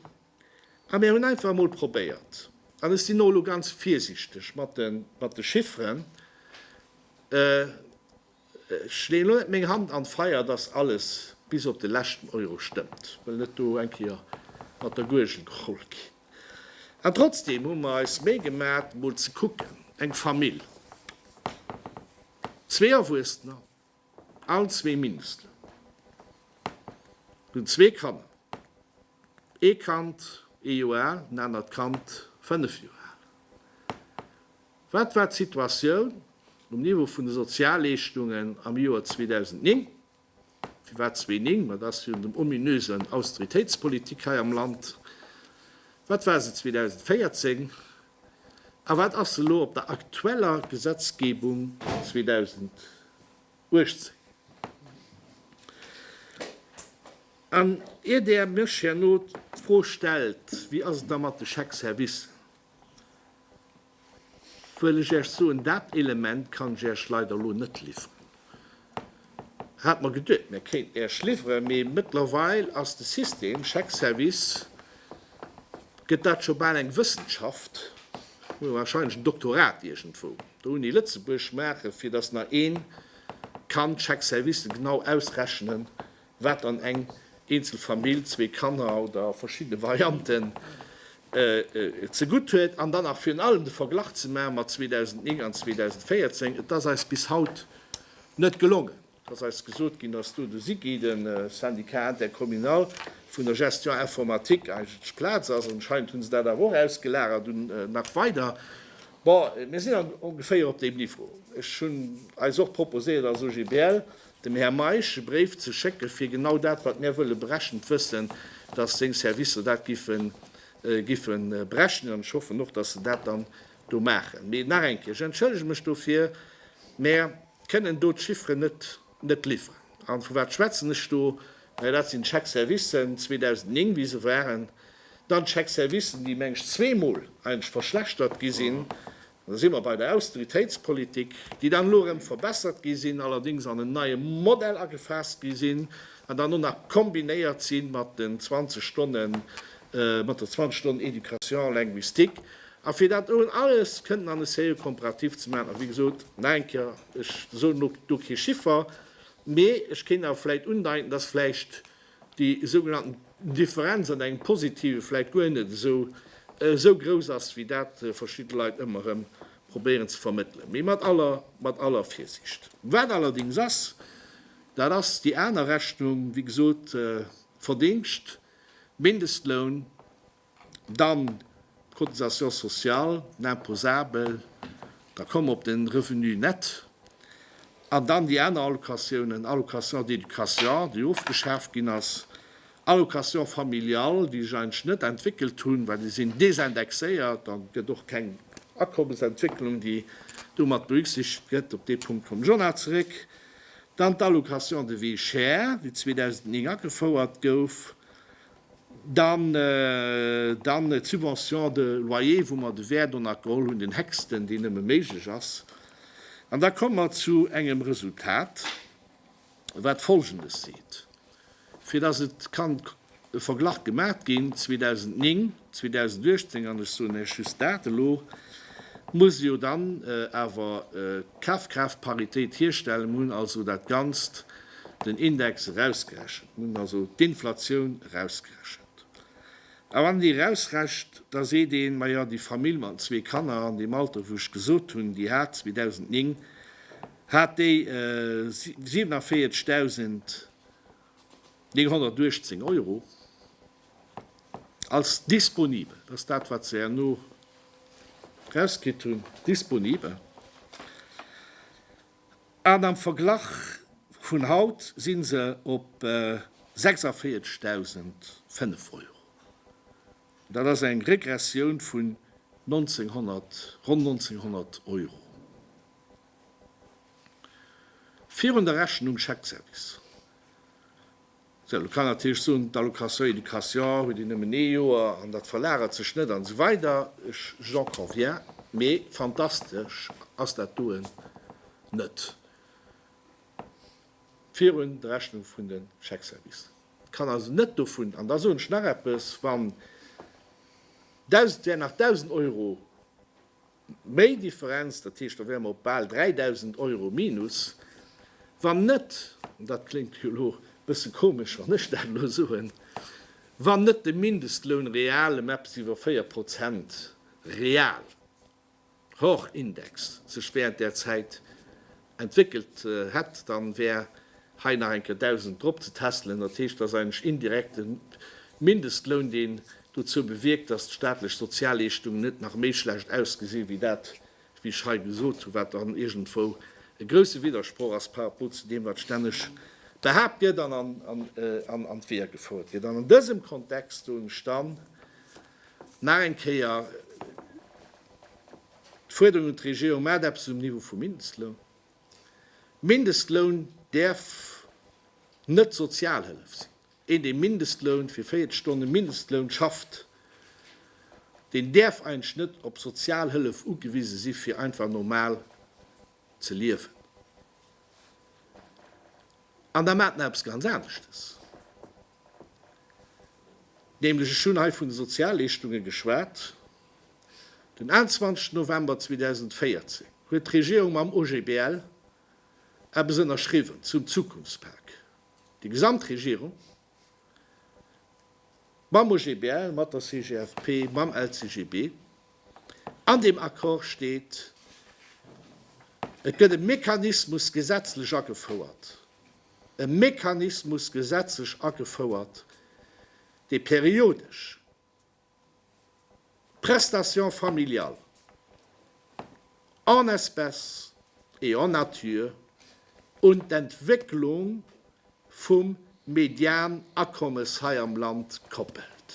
Speaker 1: A mir hunn einfach emol probéiert, an ech sinn och elo ganz virsiichteg mat de Chifferen, ech leeën elo net meng Hand an d'Feier, dass alles bis op de leschten Euro stëmmt, wëll net do eng Kéier mat der Guergel geholl ginn, an trotzdeem hu mer eis Méi gemat, emol ze kucken, eng Famill, zwee Erwuessener, All zwee Minister hunn zwee Kanner, ee Kand ee Joer al, en anert Kand fënnef Joer al. Wat war d'Situatioun um Niveau vun de Sozialleeschtungen am Joer 2009? Firwat 2009? Ma et ass virun dem ominösen Austeritéitspolitik hei am Land. Wat war se 2014? A wat ass elo op der aktueller Gesetzgebung 2018? An ier Der mech herno d'Fro stellt, Wéi ass et da mat de Chèques-services? wëll ech Iech soen, Dat Element kann ech Iech leider elo net liwweren. Hat mer geduet mär kéinten Äech liwweren, mee mëttlerweil ass de System, Chèque Service, gëtt dat scho bal eng Wëssenschaft, muss wahrscheinlech en Doktorat iergendwou der Uni Lëtzebuerg maachen, fir dass nach een kann d'Chèque Servicen genau ausrechnen, Wat dann eng eenzel Famill, zwee Kanner oder verschiddene Varianten, zegutt huet an dann nach virun allem de Verglach ze maache mat 2009 an 2014, et ass eis bis haut net gelongen. Et ass eis gesot ginn, dass do de SIGI, de Syndicat intercommunal vun der Gestion informatique, eigentlech Plaz ass. Anscheinend hu se dat awer och ausgelagert un nach weider. Bon, mir sinn ongeféier op deem Niveau. Ech hunn eis och proposéiert als OGBL, dem Här Meisch e Bréif ze schécken, fir genau dat, wat mär wëlle brechen, d'Wëssen, dass seng Servicer dat giffen, giffe brechen. An ech hoffen och, dass se dat dann do maachen. Mee nach eng Kéier, ech entschëllege mech dofir, mä kënnen do d'Chiffren net, net liwweren. A vu wat schwätzen ech do? Naja, dat sinn d'Chèques-services 2009, wéi se waren, dann d'Chèques-services, déi, meng ech, zweemol eigentlech verschlechtert gi sinn, An da si mer bei der Austeritéitspolitik, déi dann elo erëm verbessert gi sinn, allerdéngs an en neie Modell agefaasst gi sinn an dann och nach kombinéiert si mat den 20 Stonnen, mat der 20 Stonnen Éducation linguistique. A fir dat elo alles kënnten an e sérieux Komparatif ze maachen, a wéi gesot, nach eng Kéier, ech soen elo do kee Chiffer, mee ech kéint awer vläicht undeiten, dass vläicht déi sougenannten Differenz an engem positive vläit guer net esou esou grouss ass, wéi dat verschidde Leit ëmmer erëm probéieren ze vermëttelen, mee mat aller mat aller Virsiicht. Wat allerdéngs ass, dat ass déi aner Rechnung, wéi gesot, Verdingscht, Mindestloun, Dann d'Cotisation sociale imposable, da komme mer op de Revenu net. An dann déi aner Allocatiounen, Allocation d'éducation, déi ofgeschaaft ginn ass, Allocation familiale, déi sech eigentlech net entwéckelt hunn, well déi sinn désindexéiert an et gëtt och keng Akommesentwécklung, déi do mat berücksichtegt gëtt. Op dee Punkt komme ech och nach zeréck. Dann d'Allocation de vie chère, déi 2009 agefouert gouf. Dann d'Subvention de loyer, wou mer de Wäert onnert geholl hunn, den héchsten, deen nëmme méiglech ass. An da komme mer zu engem Resultat, wat Folgendes seet, fir dass et ka e Verglach gemaat ginn, 2009, 2018, an ech soen Iech just dat elo, muss jo dann awer d'Kafkraaftparitéit hierstellen. Mer hunn also dat Ganzt den Index erausgerechent, mir hunn also d'Inflatioun erausgerechent. A wann een déi erausrecht, da seet een, Majo, déi Famill mat den zwee Kanner an deem Alter, wou ech gesot hunn, déi hat 2009 hat déi 47.918 Euro als disponibel, dat ass dat, wat se herno erauskritt hunn, disponibel. an am Verglach vun haut si se op 46.005 Euro. Dat ass eng Regressioun vun ronn 1900 Euro. Virun der Rechnung Chèque-service. Sou, elo kann natierlech soen, d'Allocation éducation huet een nëmmen ee Joer an dat verlagert sech net an esou weider. J'en conviens, mee fantastesch ass dat doen net virun der Rechnung vun de Chèque-service. Et kann also net dovun, an da soen ech nach eppes, wann 1.000, wär nach 1.000 Euro, Méi Differenz, dat heescht, da wäre mer op bal 3.000 Euro Minus, wann net, an dat kléngt jo elo e bësse komesch, wann ech dat elo soen, wann net de Mindestloun real ëm eppes iwwer 4 Prozent real, hors Index, sech während där Zäit entwéckelt hätt, da wär hei nach eng Kéier 1.000 drop ze tässelen. Dat heescht, et ass eigentlech indirekt de Mindestloun, deen dozou bewierkt, datt d'staatlech Sozialleeschtungen net nach méi schlecht ausgesinn, wéi dat, wéi ech hei gesot hunn, wat dann iergendwou e grousse Widdersproch ass par rapport zu deem, wat stänneg behaapt gëtt an an d'Weeër gefouert gëtt. An an dësem Kontext soen ech dann nach eng Kéier, D'Fuerderung un d'Regierung, Maacht eppes um Niveau vum Mindestloun! Mindestloun däerf net Sozialhëllef sinn! Een dee Mindestloun fir 40 Stonne Mindestloun schafft, deen däerf eigentlech net op Sozialhëllef ugewise si fir einfach normal ze liewen! An da maacht nach eppes ganz aneschtes! Nämlech, ech hunn hei vun de Sozialleeschtunge geschwat, den 21 November 2014 huet d'Regierung mam OGBL eppes ënnerschriwwen zum Zukunftspak. Déi gesamt Regierung, mam OGBL, mat der CGFP, mam LCGB. An deem Accord steet, et gëtt e Mechanismus gesetzlech agefouert, e Mechanismus gesetzlech agefouert, dee periodesch d'Prestations familiales en espèces et en nature un d'Entwécklung vum Medianakommes hei am Land koppelt.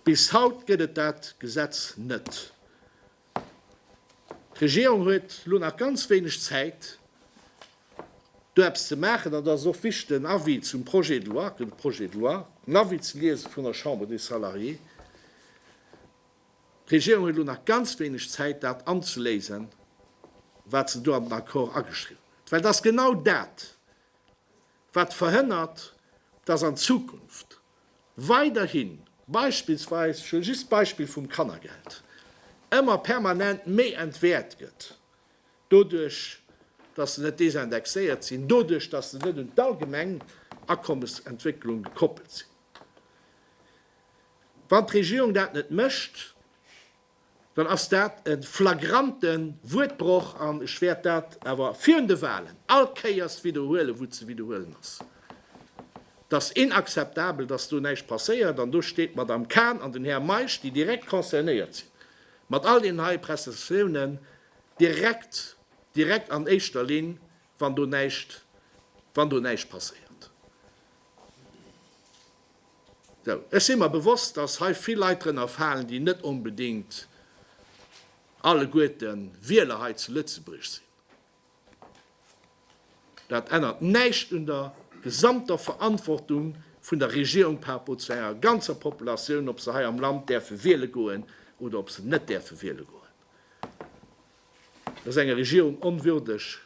Speaker 1: Bis haut gëtt et dat Gesetz net. D'Regierung huet elo nach ganz wéineg Zäit, do eppes ze maachen. An da ass et och wichteg, den Avis zum Projet de loi, et gëtt e Projet de loi, den Avis ze liese vun der Chambre des Salariés. D'Regierung huet elo nach ganz wéineg Zäit, dat anzeléisen, wat se do an den Accord ageschriwwen huet, well et ass genau dat, wat verhënnert, dass an Zukunft weiderhin, beispillsweis, ech huele just d'Beispill vum Kannergeld, ëmmer permanent méi entwäert gëtt, doduerch dass se net desindexéiert sinn, doduerch dass se net un d'allgemeng Akommesentwécklung gekoppelt sinn. Wann d'Regierung dat net mécht, dann ass dat e flagrante Wuertbroch an ech wäert dat awer virun de Wahlen all Kéiers widderhuelen, wou et ze widderhuelen ass. Et ass inakzeptabel, dass do näischt passéiert an do steet d'Madame Cahn an den Här Meisch, déi direkt concernéiert sinn mat all deenen hei Prestatiounen, direkt, direkt an éischter Linn wann do näischt, wann do näischt passéiert. Sou, ech si mer bewosst, dass hei vill Leit drënner falen, déi net onbedéngt alleguerte Wieler hei zu Lëtzebuerg sinn. Dat ännert näischt un der gesamter Verantwortung vun der Regierung par rapport zu enger ganzer Populatioun, ob se hei am Land däerfe wiele goen oder ob se net däerfe wiele goen. Et ass enger Regierung onwürdeg,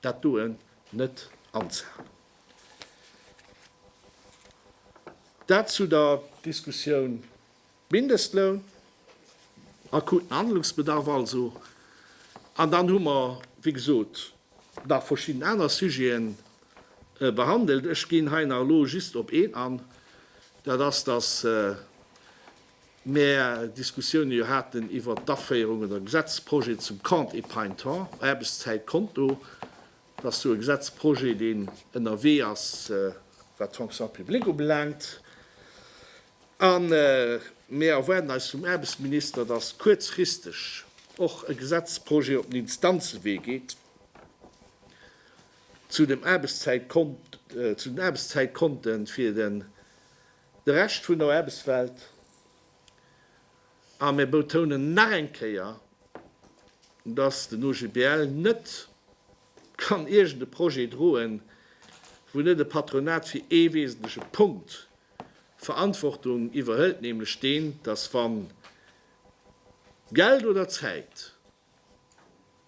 Speaker 1: dat doen net anzehalen. Dat zu der Diskussioun Mindestloun, akuten Handlungsbedarf also. An dann hu mer, wéi gesot, nach verschidden aner Sujeten behandelt. Ech ginn hei nach elo just op een an, dat ass, dass mär Diskussioune jo haten iwwert d'Aféierung oder Gesetzprojet zum Compte Épargne Temps, Aarbechtszäitkonto, dat ass jo e Gesetzprojet, deen ënnerwee ass, wat d'Fonction publique ubelaangt. A mir erwaarden eis vum Aarbechtsminister, dass kuerzfristeg och e Gesetzprojet op den Instanzewee geet zu dem Aarbechtszäitkont, zu den Aarbechtszäitkonte fir den De Rescht vun der Aarbechtswelt, a mir betounen nach eng Kéier, dass den OGBL net kann iergend e Projet droen, wou net e Patronat fir ee wesentleche Punkt Verantwortung iwwerhëlt, nämlech deen, dass wann Geld oder Zäit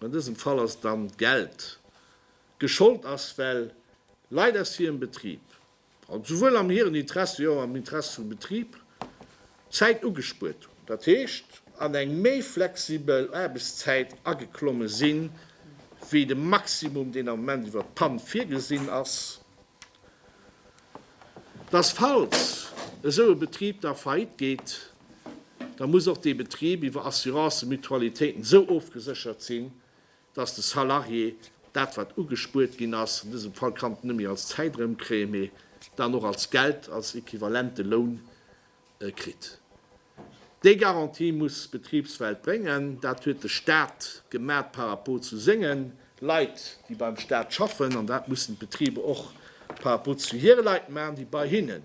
Speaker 1: An dësem Fall ass et dann d'Geld. Geschollt ass, well Leit aus hirem Betrib, also souwuel am hiren Interesse wéi och am Interesse vum Betrib, Zäit ugespuert hunn. Dat heescht, an eng méi flexibel Aarbechtszäit ageklomme sinn, wéi de Maximum, deen am Moment iwwert d'Pann virgesinn ass. Dass, falls esou e Betrib da faillite geet, da muss och dee Betrib iwwer Assurancen, Mutualitéiten esou ofgeséchert sinn, dass de Salarié dat, wat ugespuert ginn ass, an dësem Fall kann et net méi als Zäit erëmkréien, mee dann och als Geld, als equivalente Loun kritt. Déi Garantie muss d'Betribswelt bréngen. Dat huet de Stat gemat par rapport zu senge Leit, déi beim Stat schaffen, an dat mussen d'Betriber och par rapport zu hire Leit maachen, déi bei hinnen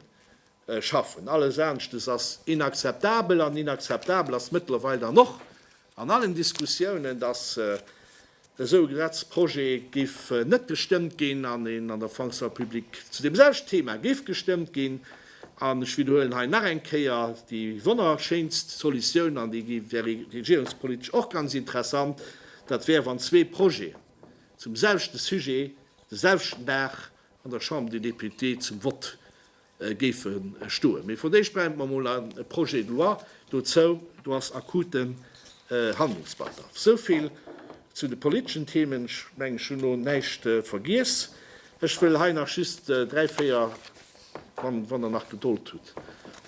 Speaker 1: schaffen. Alles aneschtes ass inakzeptabel an inakzeptabel ass mëttlerweil dann och an allen Diskussiounen, dass esou e Gesetzprojet géif net gestëmmt ginn an en an der Fonction publique zu deem selwechten Thema géif gestëmmt ginn. An ech widderhuelen hei nach eng Kéier, déi wonnerschéinst Solutioun, an déi wär regierungspolitesch och ganz interessant, dat wär, wann zwee Projeten zum selwechten Sujet de selwechten Dag an der Chambre des Députés zum Vott géife stoen. Mee fir d'éischt brauche mer emol e Projet de loi dozou. Do ass akuten Handlungsbedarf. Esou vill zu de politeschen Themen. Ech mengen, ech hunn elo näischt vergiess. Ech wëll hei nach just dräi, véier, wann Der nach Gedold hutt,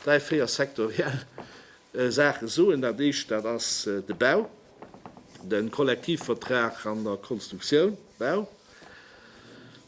Speaker 1: dräi, véier sektoriell Saache soen. Dat Éischt, dat ass de Bau, de Kollektivvertrag an der Konstruktioun, Bau.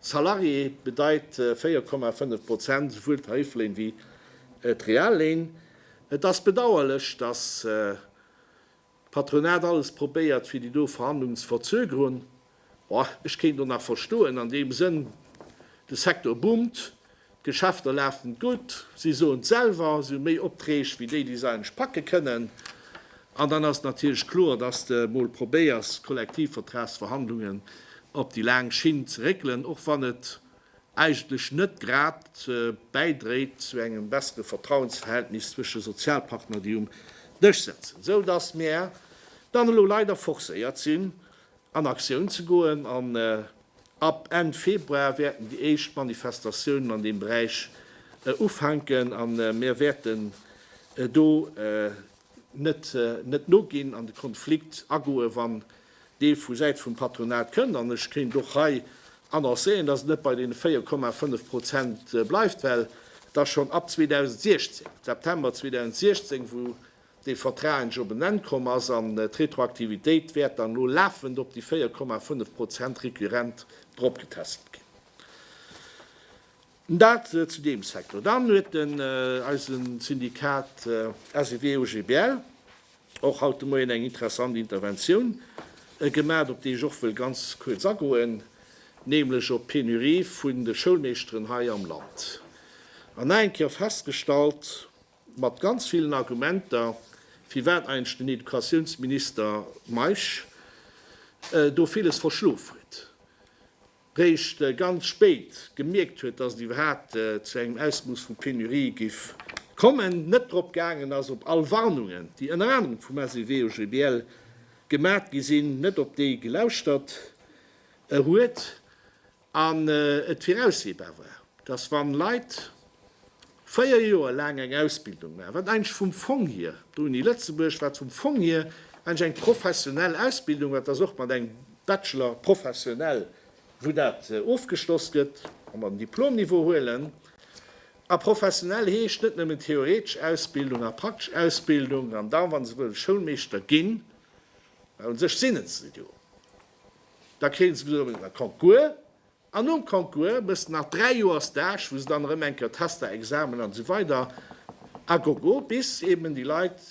Speaker 1: Salarié bedeit 4,5 Prozent, esouwuel d'Tarifléin wéi d'Realléin. Et ass bedauerlech, datt d'Patronat alles probéiert fir déi do Verhandlungen ze verzögerun. Ech kéint och nach verstoen, an deem Sënn, de Secteur boomt, D'Geschäfter lafen gutt, si soen et selwer, si hu méi Optreeg wéi déi, déi se eigentlech packe kënnen. An dann ass et natierlech kloer, dass de mol probéiers, d'Kollektivvertragsverhandlungen op déi laang Schinn ze réckelen, och wann et eigentlech net grad bäidréit zu engem bessere Vertrauensverhältnis zwësche Sozialpartner, déi um Dësch sëtzen. Esou dass mir dann elo leider forcéiert sinn, an Aktioun ze goen an ab Enn Februar wäerten déi éischt Manifestatiounen an deem Beräich ufänken a mir wäerten do net noginn an de Konflikt agoen, wann dee vu Säit vum Patronat kënnt. An ech kéint och hei annoncéieren, dass et net bei deene 4,5 Prozent bleift, well dass schonn ab 2016, September 2016, wou dee Vertrag endlech op en Enn komm ass an d'Retroaktivitéit wäert dann elo lafend op déi 4,5 Prozent récurrent eropgetässelt ginn. Dat zu deem Secteur. Dann huet den eise Syndikat SEW-OGBL och haut de Moien eng interessant Interventioun gemaach, op déi ech och wëll ganz kuerz agoen, nämlech op d'Penurie vun de Schoulmeeschteren hei am Land. An nach eng Kéier festgestallt, Mat ganz villen Argumenter, firwat eigentlech den Educatiounsminister Meisch do villes verschlof huet, réischt ganz spéit gemierkt huet, datt et iwwerhaapt zu engem Ausmooss vu Penurie géif kommen, net drop gaangen ass, op all Warnungen, déi ënner anerem vum SEW-OGBL gemat gi sinn, net op déi gelauschtert huet. an et viraussehbar war, dass wann Leit véier Joer laang eng Ausbildung maachen, wat eigentlech vum Fong hier, d'Uni Lëtzebuerg, wat vum Fong hier eigentlech eng professionell Ausbildung war, dass och mat engem Bachelor professionel, wou dat ofgeschloss gëtt, wa mer den Diplomniveau huelen, a professionell heescht net nëmmen theoretesch Ausbildung a praktesch Ausbildung, an da wa se wëllen Schoulmeeschter ginn, well u sech sinn et se jo, Da kréien se gesot, da kommt guer. An nom kommt guer muss de nach dräi Joer Stage, wou se dann erëm eng Kéier Tester, Examen an esou weider a gogo, bis eben déi Leit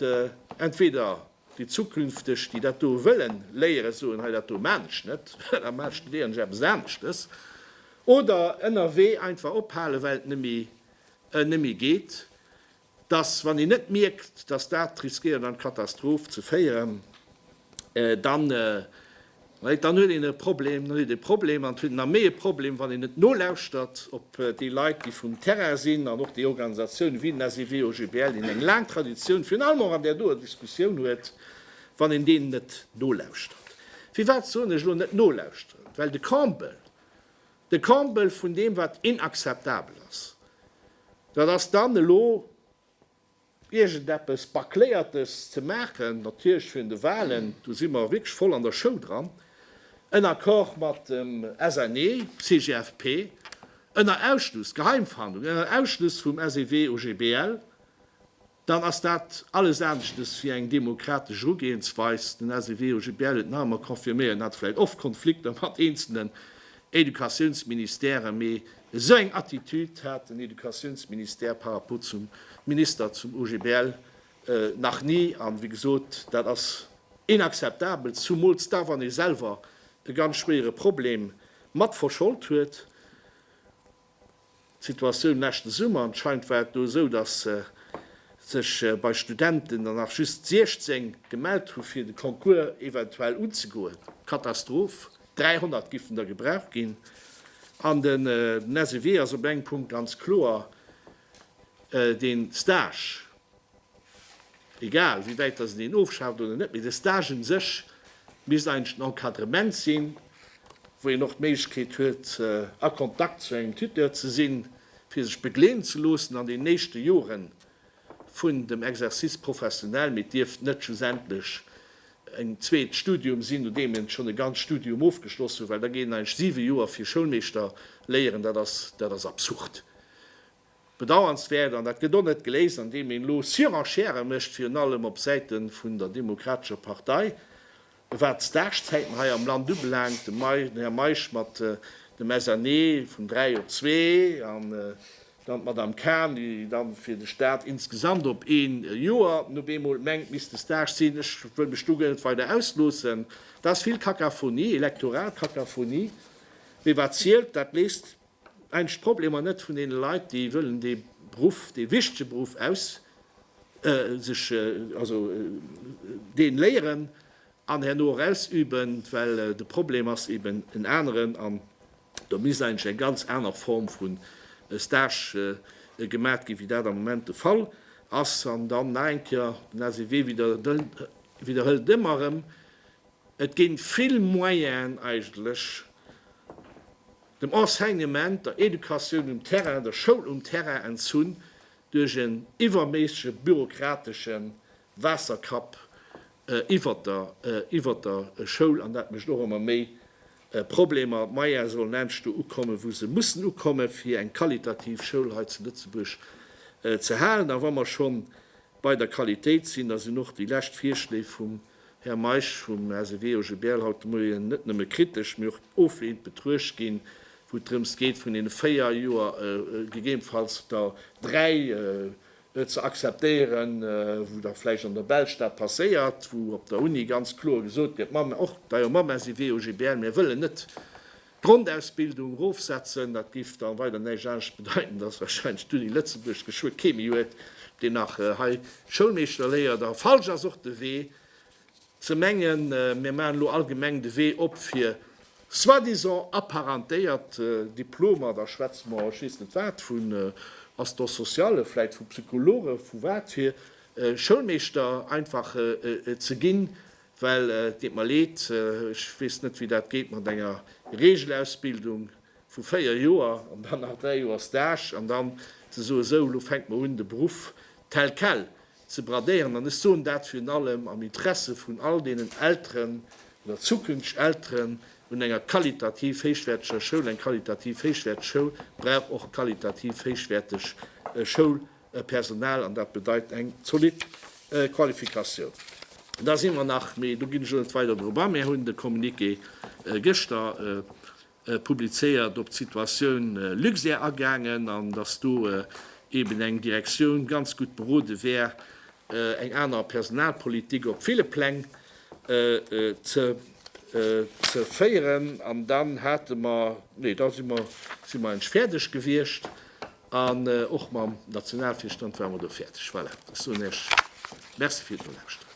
Speaker 1: entweder déi zukünfteg, déi dat do wëlle léieren, soen, hei dat do maan ech net, da maan ech, studéieren ech eppes aneschtes, oder ënnerwee einfach ophalen, well et net méi geet. Dass, wann een net mierkt, dass dat riskéiert an d'Katastroph ze féieren, dann, Leid, dann huet een e Problem, dann huet een e Problem an et huet een nach méi e Problem, wann een net nolauschtert op déi Leit, déi vum Terrain sinn an och déi Organisatiounen wéi den SEW, OGBL, deen eng laang Traditioun virun allem och an där doer Diskussioun huet, wann een deenen net nolauschtert. Firwat soen ech elo net nolauschteren? Well de Campbell, De Comble vun deem, wat inakzeptabel ass, dat ass dann elo iergendeppes Bâcléiertes ze maachen, natierlech virun de Wahlen, do si mer wierklech voll an der Show dran, en Accord mat dem SNE, CGFP, ënner Ausschluss, Geheimverhandlung, ënner Ausschluss vum SEW, OGBL, Dann ass dat alles aneschtes wéi eng demokratesch Erugehensweis. Den SEW-OGBL huet nach emmer confirméiert, en hat vläit oft Konflikter mat eenzelnen Educatiounsministèren, mee esou eng Attitüd hat den Educatiounsministère par rapport zum Minister, zum OGBL nach ni. An, wéi gesot, dat ass inakzeptabel, zumools da wann ee selwer e ganz schwéiere Problem mat verschold huet. D'Situatioun leschte Summer anscheinend war et do esou, datt sech bei Studenten der nach just 16 gemellt hu fir de Concours eventuell unzegoen. Katastroph, 300 géifen der gebraucht ginn. An den SEW ass op engem Punkt ganz kloer, dee Stage, Egal wéi wäit dass en een ofschaaft oder net, mee de Stage un sech misst eigentlech en Encadrement sinn, wou een och d'Méiglechkeet huet a Kontakt zu engem Tuteur ze sinn, fir sech begleeden ze loossen an den éischte Jore vun dem Exercice professionnel. Mee et dierft net schlussendlech en zweet Studium sinn, nodeem een schonn e ganz Studium ofgeschloss huet, well da geet een eigentlech siwe Joer fir Schoulmeeschter léieren. Dat ass, dat ass absurd. Bedauernswäert, an dat gëtt och net geléist, andeem een elo Surenchère mécht, virun allem op Säite vun der Demokratescher Partei, wat d'Stagezäiten hei am Land ubelaangt, den Här Meisch mat dem SNE vun dräi op zwee an dann d'Madame Cahen, déi da fir de Stat insgesamt op ee Joer nun eemol mengt, misst de Stage sinn. Ech wëll mech do guer net weider ausloossen. Dat ass vill Kakaphonie, Elektoralkakaphonie. Mee wat zielt, dat léisst Eng d'Problemer net vun deene Leit, déi wëllen dee Beruff, dee wichtege Beruff aus sech, also deen léieren an herno och ausüben, well de Problem ass eben en aneren an do misst eigentlech eng ganz aner Form vu Stage gemat ginn, wéi dat am Moment de Fall ass. An dann nach eng Kéier, den LCW widderhëlt ëmmer erëm, Et ginn vill Moyenen eigentlech dem Enseignement, der Educatioun um Terrain, der Schoul um Terrain entzunn duerch en iwwerméissege bürokratesche Waasserkapp iwwert der Schoul an dat mécht och ëmmer méi Problemer. D'Moyene sollen endlech do ukomme wou se mussen ukomme fir eng qualitativ Schoul hei zu Lëtzebuerg ze halen. A wa mer schonn bei der Qualitéit sinn, da sinn och déi lescht Virschléi vum Här Meisch vum Asebio Je Bärl haut de Moien net nëmme kritesch, mee och oflehnend betruecht ginn, wou et drëms geet vun deene véier Joer gegebenfalls der dräi ze akzeptéieren, wou da vläicht an der Belsch dat passéiert, wou op der Uni ganz kloer gesot gëtt, Mamm, och, da jo, mam Asebio Je Bärl, mir wëllen net, D'Grondausbildung rofsetzen, dat géif da weider näischt anescht bedeiten, dass wahrscheinlech d'Uni Lëtzebuerg geschwë kee méi huet, deen nach hei Schoulmeeschter léiert. A falsch ass och de Wee, ze mengen, mir maachen elo allgemeng de Wee op fir soi-disant apparentéiert Diplomer, da schwätze mer, ech weess net wat, vun Assistants sociales, vläit vu Psychologe vu watfir Schoulmeeschter einfach ze ginn. Well et deet mer leed, ech weess net, wéi dat geet mat enger Regelausbildung vu véier Joer an dann nach dräi Joer Stage an dann ze soen, esou, elo fänkt mer un, de Beruff tel quel ze bradéieren. An ech soen dat virun allem am Interesse vun all deenen Elteren oder zukünfteg Elteren un enger qualitativ héichwäerteger Schoul. Eng qualitativ héichwäerteg Schoul brauch och qualitativ héichwäerteg Schoulmemberen. Personal, an dat bedeit eng zolidd Qualifikatioun. Da si mer nach, mee do ginn ech elo net weider drop a, mir hunn de Communiqué gëschter publizéiert, op d'Situatioun Luxair agaangen an datt do eeben eng Direktioun ganz gutt berode wär, eng aner Personalpolitik op ville Pläng ze féieren. An dann hate mer, nee da si mer, si mer eng fäerdeg gewiescht. An och mam Nationalvirstand ware mer do fäerdeg. Voilà, ech soen Iech Merci fir d'Nolauschteren.